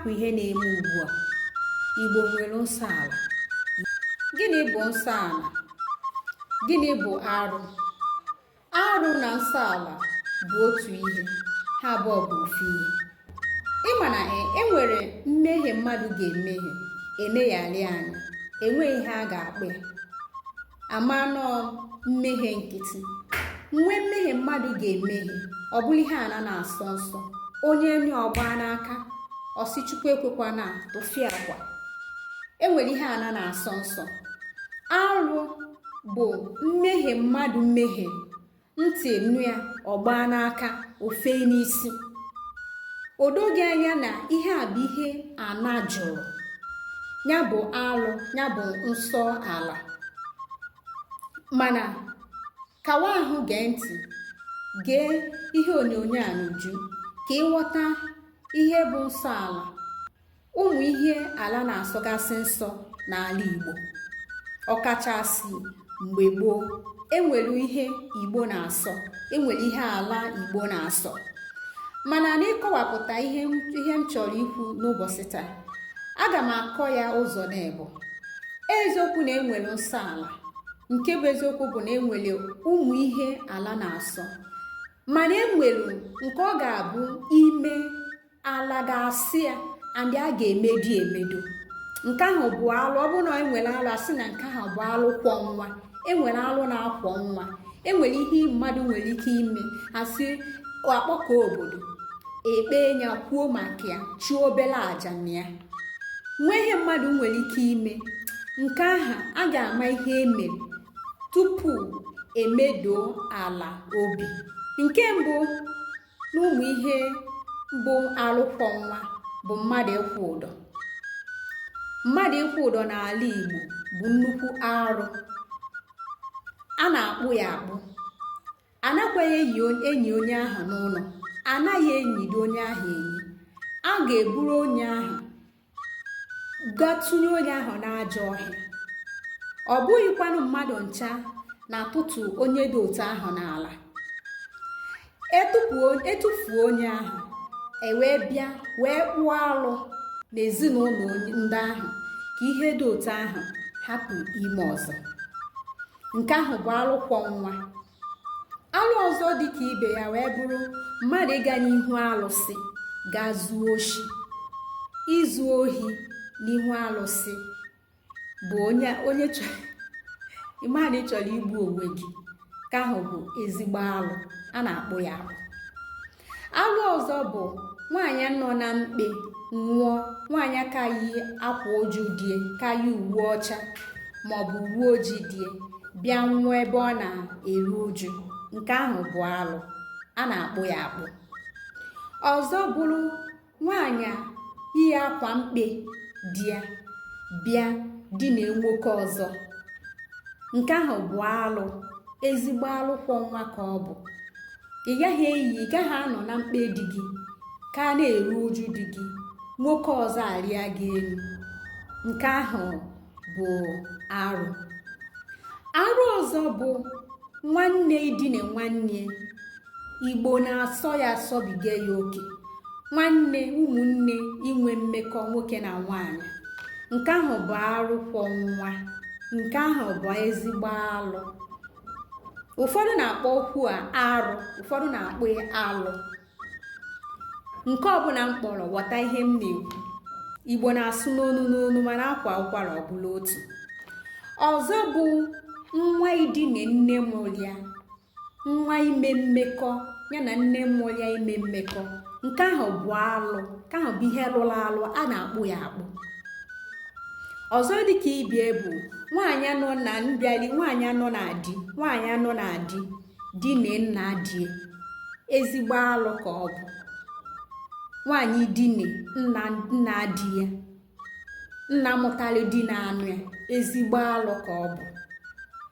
bụ ihe na-eme ugbu a igbo nwere nsọ ala gịnị bụ nsọ ala gịnị bụ arụ arụ na nsọ ala bụ otu ihe ha abụọ bụ ofu ihe ịma na e, e nwere mmehie mmadụ ga-emehie emeghali anya enweghị ihe a ga-akpọ ya ama na ọ mmehie nkịtị nwe mmehie mmadụ ga-emehie ọ bụrụ ihe ana na-asọ nsọ onye nụ ya ọ gbaa n'aka ọ sị chukwu ekwekwana tụfịakwa enwere ihe ana na-asọ nsọ arụ bụ mmehie mmadụ mehie ntị nụ ya ọ gbaa n'aka o fee n'isi o doo gị anya na ihe a bụ ihe ana jụrụ ya bụ alụ ya bụ nsọ ala mana kawa ahụ gee ntị gee ihe onyonyo a n'uju ka ị ghọta ihe bụ nsọ ala ụmụ ihe ala na-asọgasị nsọ n'ala Igbo ọkachasị mgbe gboo enwere ihe Igbo na-asọ enwere ihe ala Igbo na-asọ mana n'ịkọwapụta ihe m chọrọ ikwu n'ụbọchị taa aga m akọ ya ụzọ naabọ eziokwu na enwere nsọ ala nke bụ eziokwu bụ na enwere ụmụ ihe ala na-asọ mana enwere nke ọ ga-abụ i me ala ga-asị ya and a ga-emedo emedo nke ahụ bụ alụ ọ bụrụ na enwere alụ asị na nke ahụ bụ alụ kwọ nwa enwere alụ na-akwọ nwa enwere ihe mmadụ nwere ike ime asị akpọkọ obodo ekpe ya kwuo maka ya chụọ obere aja na ya nwee ihe mmadụ nwere ike ime nke ahụ a ga-ama ihe emere tupu emedo ala obi nke mbụ n'ụmụ ihe bụ alụ kwọ nwa bụ mmadụ ịkwụ ụdọ mmadụ ịkwụ ụdọ n'ala Igbo bụ nnukwu arụ a na-akpụ ya akpụ anakwaghị enyi onye ahụ n'ụlọ anaghị enyido onye ahụ enyi a ga-eburu onye ahụ ga tụnye onye ahụ n'ajọ ọhịa ọ bụghịkwanụ mmadụ ncha na-atụtụ onye dị otu ahụ n'ala etufuo onye ahụ ewee bịa wee kpụọ alụ n'ezinụlọ ndị ahụ ka ihe dị otu ahụ hapụ ime ọzọ nke ahụ bụ alụ kwọ nwa alụ ọzọ dị ka ibe ya wee bụrụ mmadụ ịga n'ihu alụsị ga zuo oshi izu ohi n'ihu alụsị bụ onye onye ịma na ị chọrọ igbu onwe gị nke ahụ bụ ezigbo alụ a na-akpụ ya akpụ alụ ọzọ bụ nwaanyị nọ na mkpe nwụọ nwaanyị a ka yi akwa uju di ya ka yi uwe ọcha maọbụ uwe ojii di ya bịa nwụọ ebe ọ na-eru uju nke ahụ bụ alụ a na-akpụ ya akpụ ọzọ bụrụ nwaanyị iyi akwa mkpe di ya bịa dina nwoke ọzọ nke ahụ bụ alụ ezigbo alụ kwọ nwa ka ọ bụ ị gaghị eyi ị gaghị anọ na mkpe di gị ka na-eru uju di gị nwoke ọzọ arịa gị elu nke ahụ bụ arụ arụ ọzọ bụ nwanne idine nwanne igbo na-asọ ya asọbiga ya oke nwanne ụmụnne inwe mmekọ nwoke na nwaanyị nke ahụ bụ arụ kwọ nwa nke ahụ bụ ezigbo alụ ụfọdụ na-akpọ okwu a arụ ụfọdụ na-akpọ alụ nke ọbụla m kpọrọ ghọta ihe m na-ekwu igbo na-asụ n'onu n'onu mana a kwaa ụkwara ọ bụrụ otu ọzọ bụ nwa idine nne mụrụ ya nwa ime mmekọ ya na nne mụrụ ya ime mmekọ nke ahụ bụ alụ nke ahụ bụ ihe lụrụ alụ a na-akpụ ya akpụ ọzọ dịka ibe ya bụ nwaanyị anọ na mbịali nwaanyị anọ na di nwaanyị anọ na di dine nna di ya ezigbo alụ ka ọ bụ nwaanyị dine nna nna di ya nna mụtara di na-anụ ya ezigbo alụ ka ọ bụ